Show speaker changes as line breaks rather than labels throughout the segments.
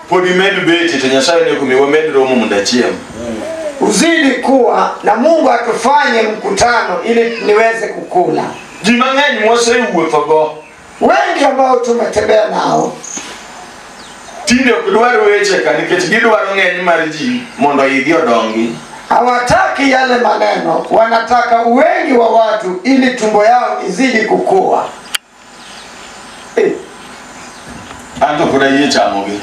pod imed beti to nyasaye ne okomi wamed romo mondo achiem uzidi
kuwa na mungu atufanye mkutano ili niweze kukula ji mang'eny
mwasewuothogo wengi ambao
tumetembea nao
tinde ok dwar weche ka nikech gidwaro ng'eny mar ji mondo igi odongi hawataki
yale maneno wanataka wengi wa watu ili tumbo yao izidi kukua
Anza kudai chamo gi.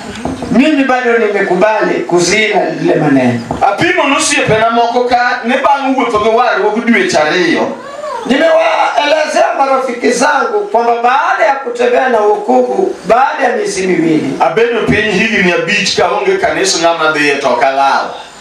Mimi bado
nimekubali kuzila lile maneno. Apimo nosiepena
moko ka ne bang' wuotho gi warruok dweche ariyo Nimewaelezea
marafiki zangu kwamba baada ya kutembea na wokovu baada ya miezi miwili abedo piny higni
abich kaonge kanisa ng'ama dhiye to ok alal.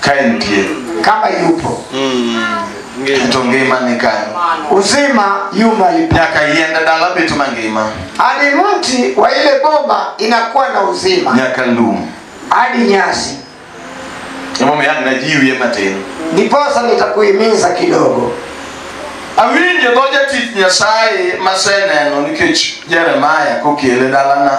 ka
entie kama yupo to ngima ni kanyo uzima
yu mahali pa nyaka yiende dala beto
mangima hadi mti
wa ile boma inakuwa na uzima nyaka lum
hadi nyasi emomiyo an najiwie matin ndiposa
nitakuhimiza kidogo
awinjo dho jatich nyasaye maseneno nikech jeremaya kokele dalana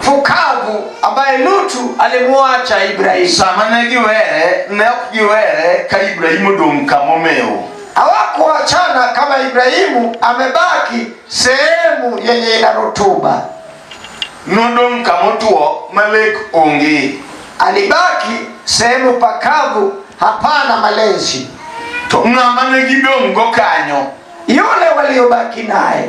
fukavu ambaye lutu alimwacha ibrahimu Sama ne giwere,
ne ok giwere ka Ibrahim odong' kama omewo. hawakuachana
kama ibrahimu amebaki sehemu yenye ina rutuba
Nodong' kama otwo ma lek onge. alibaki
sehemu pakavu hapana malezi To ng'ama
ne gidong'go kanyo yule
waliobaki naye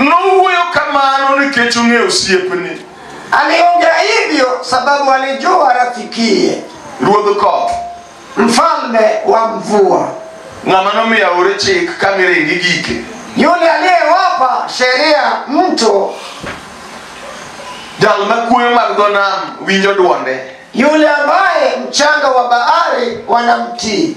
Nowuoyo kamano nikech ong'eyo osiepni. Aliongea
hivyo sababu alijua rafikiye, Ruodh koth,
mfalme
wa mvua, ng'ama nomiyo
aore chik ka miringi gike. yule aliyewapa
sheria mto,
Jal ma kuoyo mag dho nam winjo dwonde. yule ambaye
mchanga wa bahari wanamtii.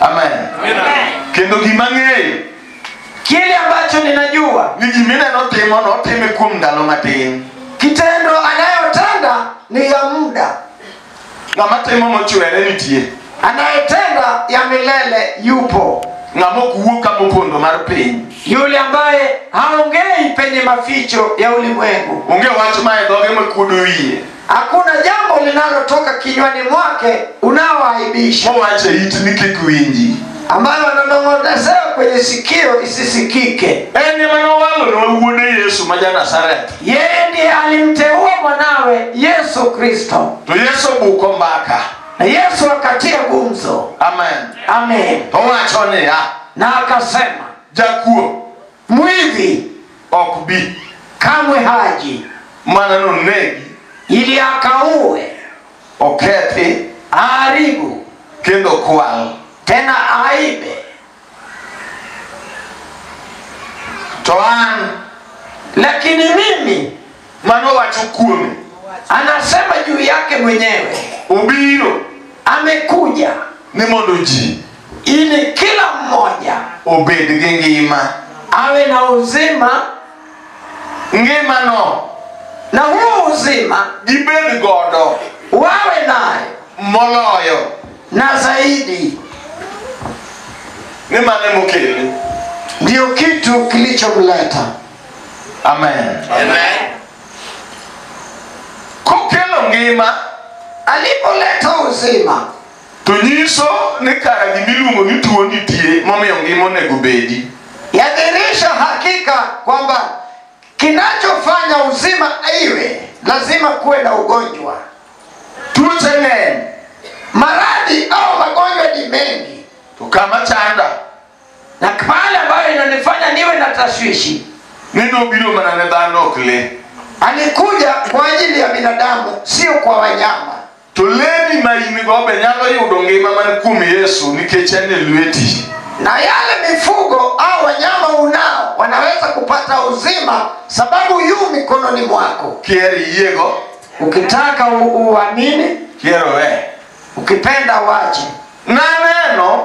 amen kendo gima ng'eyo Kile
ambacho ninajua ni gimineno timo
notime kuom ndalo matin kitendo
anayotenda ni ya muda, ng'ama
timo mochwere nitie anayetenda
ya milele yupo. ng'ama ok wuo ka
mopondo mar piny Yule ambaye
haongei penye maficho ya ulimwengu, onge wach ma e
dhoge makuodo wiye hakuna jambo
linalotoka kinywani mwake unaoaibisha mowacho e itni
kik winji ambayo
ananong'onezewa kwenye sikio isisikike en ema
nowalonwa wuode yesu ma ja nazareth yeye ndiye
alimteua mwanawe yesu kristo to yesu obuko
mbaka na yesu
akatia gumzo amen
amen
owacho niya
na akasema
jakuo
mwivi
ok bi
kamwe haji
mana nonegi
ili
akaue okethi
aharibu
kendo
kwal tena
aibe
to an lakini
mimi mano wacho
kuome anasema
juu yake mwenyewe obiro
amekuja
ni mondo
ji ili kila
mmoja obed gi
ngima awe na
uzima ngimano
na huo
uzima gibed godo
wawe nayo
moloyo
na
zaidi
ni mane mokele ndiyo
kitu kilichomleta amen
Amen. kokelo ngima Alipoleta
uzima, to nyiso
ni kara gimiluongo ni tuo nitie momiyo ngima onego bedi yadhihirisha
hakika kwamba kinachofanya uzima iwe lazima kuwe na ugonjwa. tuoche
ng'eny Maradhi
au magonjwa ni mengi, to kama chanda
na
pale ambayo inanifanya niwe na tashwishi ni nobiro
mana ne dhano ok le alikuja
kwa ajili ya binadamu sio kwa wanyama to leni
ma in go be nyalo yudo ngima man kuom yesu nikech en e lweti na yale
mifugo au wanyama unao wanaweza kupata uzima sababu yu mikononi mwako kier iyiego
ukitaka
u- uamini kier owe
ukipenda
wache naneno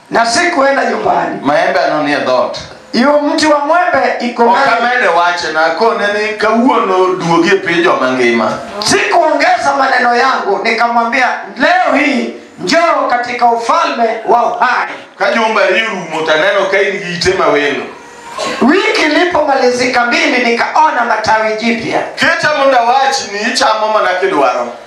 na sikuenda
nyumbani maembe ano ni e dhoot
yo mti wa
mwembe iko ok mbali. amede wache
nakone ni kawuono duogi e piny joma ngima sikuongeza
maneno yangu nikamwambia leo hii njoo katika ufalme
wa
uhai
ka jumba ri rumo to aneno
ka in
gi ite mawelo
wiki ilipomalizika mbili nikaona matawi jipya kicha mondo awach
ni ichamo mana kidwaro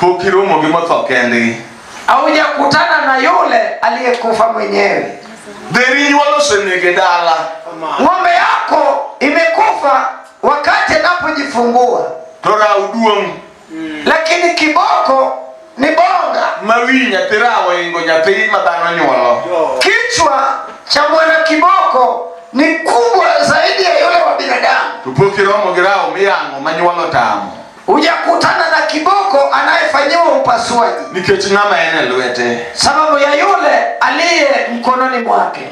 pok
iromo gi motho kendgi haujakutana
na yule aliyekufa mwenyewe dheri nyuol
osenege dala ng'ombe
yako imekufa wakati anapojifungua to raw
duong' lakini
kiboko ni bonga ma wi nyathi raw
oingo nyathi ma dhano nyuolo kichwa
cha mwana kiboko ni kubwa zaidi ya yule wa binadamu to pok iromo gi raw
miyang'o ma nyuolo tamo hujakutana na
kiboko anayefanyiwa upasuaji nikech ng'ama en
e lwete sababu ya yule
aliye mkononi mwake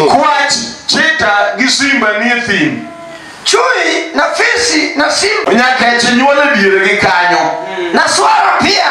kwach chita gi simba nie thim chui
na fisi na simba nyakech nyuol e
diere gi kanyo na swara
pia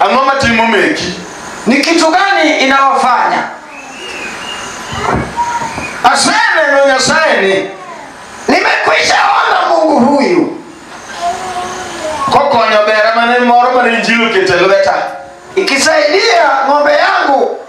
ang'o
matimo meki ni kitu
gani inawafanya
aseneno nyasaye ni nimekwisha
ona mungu huyu kokonyo
bera mane moro mane injili oketo e lweta ikisaidia
ng'ombe yangu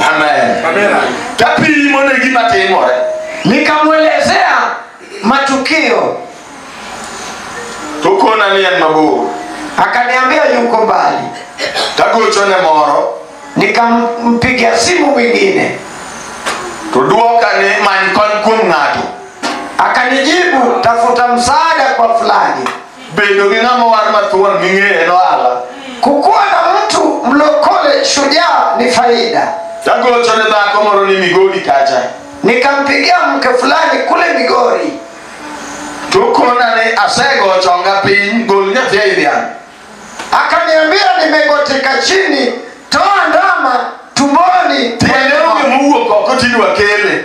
Amen. Amina. Tapimo ne gima timore. Nikamwelezea
matukio,
Tokona ni en mabor. akaniambia
yuko mbali. Tagochone
moro Nikampigia
simu mwingine, to
dwoka ni many kony kuom ng'ato. akanijibu
tafuta msaada kwa fulani. bedo gi ng'ama
owar mathuon ming'eye nohala Kukuwa na
mtu mlokole shujaa ni faida. tagocho ne
dhako moro ni migori kacha Nikampigia
mke fulani kule Migori, to
kona ni asegocho nga piny gol nyathi ei dhiang' akaniambia
nimegotika chini, toa ndama tumboni. tiende onge
mowuok oko tidwa kele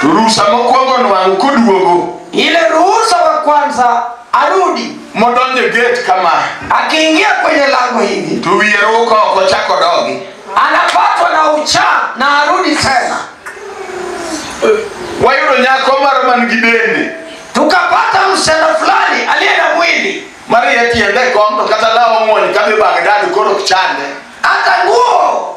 To rusa
mokwongo nwang'o koduogo Ile ruhusa
wa kwanza arudi, modonjo e gate
kama akiingia kwenye
lango hivi to wiye ruko oko
chako dogi. anapatwa na
uchaa na arudi tena.
Wayudo nyako moro man gi dende Tukapata
msichana fulani aliye na mwili, mariye tiende
kom to kata law omuony kadhi Bagdad koro ok chande. hata nguo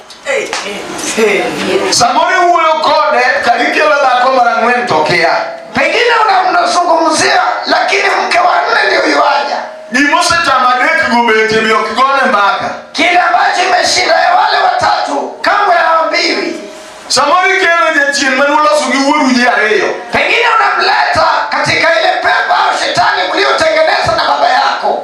Samori wuoyo kode karikelo dhako mara ng'wen to kia. Pengine una-
unazungumzia lakini mke wa nne ndio yuaja. Gima osetamo
adek go bete be ok gone mbaka. Kile ambacho
imeshinda ya wale watatu kamwe haambiwi. Samoro ikelo
jachien mane uloso gi wuoru ji ariyo. Pengine
unamleta katika ile pepa au shetani mliotengeneza na baba yako.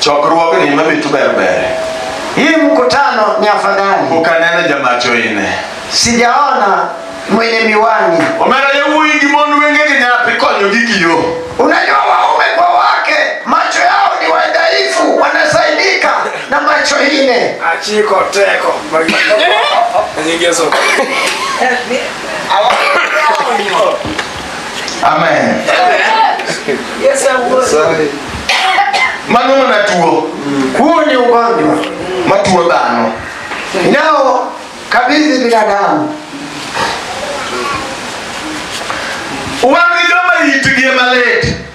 chokruogni mamitu ber ber Hii
mkutano ni afadhali, pok aneno jamacho
ine sijaona
mwenye miwani. omera yawuoyi gi
mond wengegi nyathi konyogi gi yo Unajua, waume
kwa wake macho yao ni wadhaifu, wanasaidika na macho ine. achiko teko
nyingeso
amen Yes,
I would. Nyasaye. mano
mana tuo Huu ni
ugonjwa matuo dhano
nao
kabidhi binadamu.
wan gi joma itgi ema lit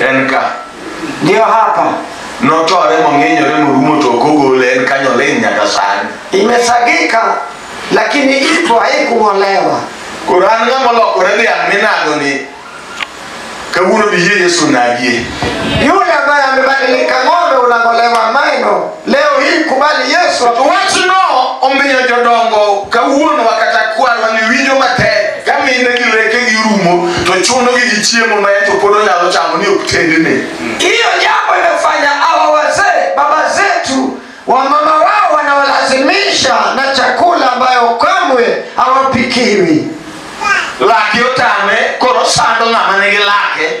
en
ka
Jehohapa notore
mong'inyore morumo to ok ogole en kanyo oling' nyaka sani imesagika,
lakini ipo haikung'olewa. koro an ng'ama
olokore dhiang' minago ni kawuono biyie yesu nagie Yule ambaye
amebadilika ng'ombe unang'olewa meno. leo hii kubali yesu wachno
omiyo jodongo kawuono wakata kwarwa ni winjo matek ka mine gi leke gi rumo to chunogi gi chiemo ma en to pod onyalo chamo ni ok tendne hiyo jambo
imefanya hawa wazee baba zetu wamama wao wanawalazimisha na chakula ambayo kamwe hawapikiwi
lake otame koro sando ng'ama nigi lake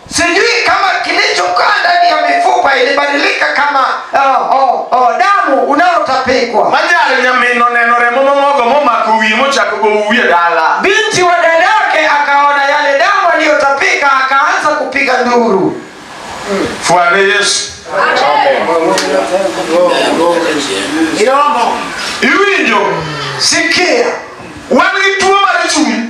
sijui kama
kilichokaa ndani ya mifupa ilibadilika kama uh, oh, oh, damu unaotapikwa manyalo nyamino
neno remo mamogo momako wiye mochako gowo wiye dala binti wa dada
yake akaona yale damu aliyotapika akaanza kupiga nduru fwane
yesu iwinjo sikia
wan
gi tuo mar chuny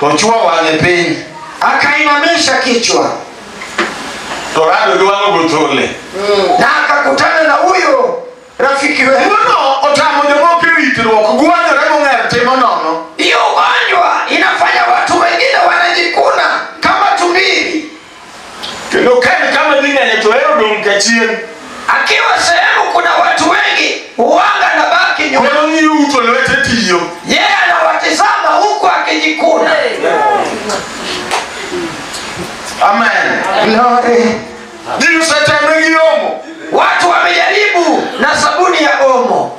to chwo
wang'e piny akainamisha
kichwa to rado
gi wang'o
gothole na
akakutana
na huyo
rafiki wetu.
Tuono
otamo jomoko e ritruok gwanyore mong'er timo nono Hiyo ugonjwa
inafanya watu wengine wanajikuna kama tumbili. kendo
ka en kama dhi ng'enye to hero dong' ka chieng' akiwa
sehemu kuna watu wengi huanga na baki nyuma koro ng'iyo uto lwete
tiyo yeye anawatizama
huku akijikuna
amen Glory.
ji
osetemre gi omo watu wamejaribu
na sabuni ya omo